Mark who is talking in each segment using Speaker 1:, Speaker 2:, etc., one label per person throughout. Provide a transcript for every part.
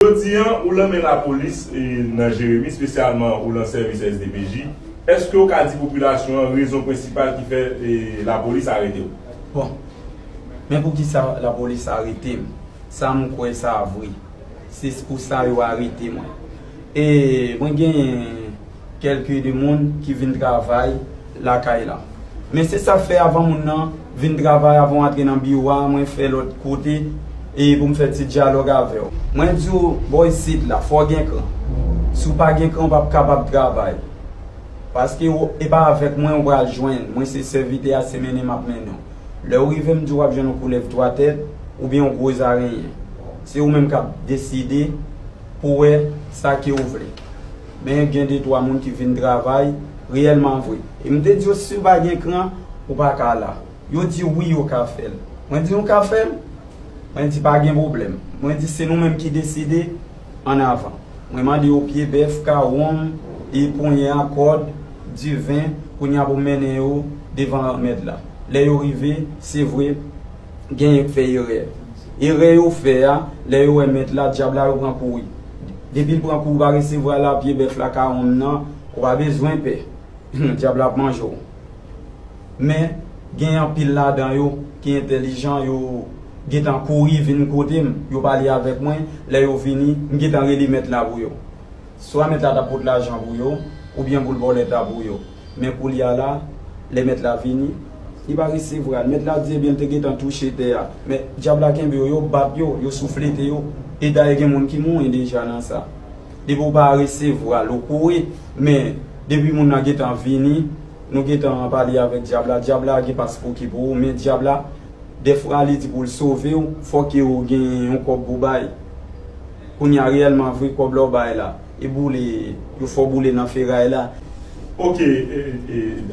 Speaker 1: Jodi an, ou lan men lapolis nan Jeremi, spesyalman ou lan sèvis SDPJ, eske ou ka di popilasyon an rezon prensipal ki fè lapolis arete ou? Bon,
Speaker 2: men poukisa lapolis arete m, sa m kwè sa vre, se pou sa yo arete mwen. E mwen gen. kelke de moun ki vin travay lakay la. Men se sa fè avan moun nan vin travay avan w antre nan biwo a mwen fè lòt kote e pou m fè ti dyalòg avè w. Mwen di w bò isit la fò w gen kran. Si w pa gen kran w pap kapab travay. Paske w e pa avèk mwen w pral jwenn. Mwen se sèvitè a se mennen m ap mennen w. Lè w rive m di w w ap jwenn yon koulèv twa tèt oubyen yon gwo zarenyen. Se ou menm k ap deside pou w wè sa ke w vle. men gen de twa moun ki vin travay reyèlman vre. E m te di yo, si w pa gen kran, ou pa ka la. Yo di, wi, yo ka fè l. Mwen di, nou ka fè l? Mwen di, pa gen pwoblèm. Mwen di, se nou menm ki deside, ann avan. Mwen mande yo pye bèf, kawonm, e ponyen a, kòd, diven, kounye a pou m mennen yo devan Granmèt la. Lè yo rive, se vre, Genyen k fè erè. Erè yo fè a, lè yo wè mèt la, dyab la, yo pran kouri. Depi l pran kou ou pa resevwa l a pye bèf la ka wonn nan, ou pa bezwen pè. Dyab la ap manje w. Men, genyen anpil ladan yo ki entèlijan, yo gen tan kouri vin kote m, yo pale avèk mwen, lè yo vini, m gen tan rele mèt la pou yo. Swa mèt la ta pot lajan pou yo, oubyen pou l vòlè ta pou yo. Men koulye a la, lè Mèt la vini, li pa resevwa l. Mèt la di, Ebyen, l te gentan touche tè a. Men, Dyab la kenbe yo, yo bat yo, yo souflete yo. E dayè gen moun ki mouri deja nan sa. Depi ou pa resevwa l, ou kouri. Men, depi moun nan gentan vini, nou gentan pale avèk Dyab la. Dyab la gen paspouki pou ou. Men, Dyab la, dèfwa li di pou l sove ou, fòk yo gen yon kòb pou bay. Kounye a, reyèlman vre, kòb la ou bay la. e boule yo fè w boule nan feray la. Ok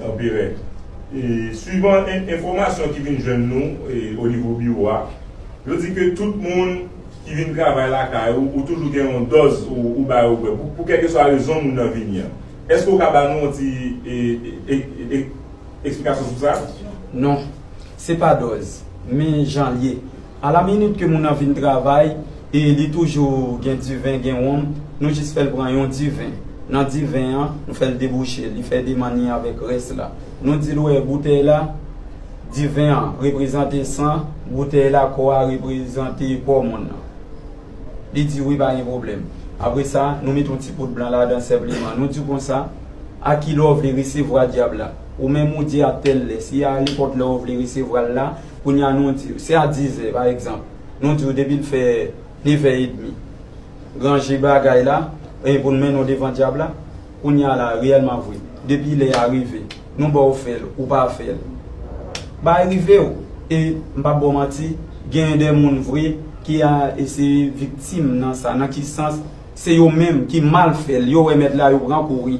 Speaker 1: Anperè, swivan enfòmasyon ki vin jwenn nou o nivo biwo a, yo di ke tout moun ki vin travay lakay ou, ou toujou gen yon dòz ou ba yo bwè pou kèlkeswa rezon moun nan vini an. Èske ou ka ba nou yon ti eksplikasyon sou sa? Non,
Speaker 2: se pa dòz, men jan l ye. A la minit ke moun nan vin travay e li toujou gen diven, gen wonm, nou jis fè l pran yon diven. Nan diven an, nou fè l debouche, li fè demann li avèk rès la. Nou di l ou wè boutèy la, diven an reprezante san, boutèy la, kò a reprezante kò moun nan. Li di wi pa gen pwoblèm. Apre sa, nou met yon ti poud blan ladan senpleman. Nou di konsa, a ki lè w vle resevwa dyab la. Ou menm ou di a tèl lè. Si a alepòt lè ou vle resevwa l la. Kounye a nou di w, se a dizè, pa egzanp, nou di w depi l fè nevè edmi, ranje bagay la, e pou n mennen w devan dyab la, kounye a la, reyèlman vre, depi lè a rive, nou ba w fè l, ou pa fè l, bay rive w, e, m p ap ba w manti, genyen de moun vre ki a se viktim nan sa, nan ki sans, se yo menm ki mal fè l, yo wè mèt la, yo pran kouri.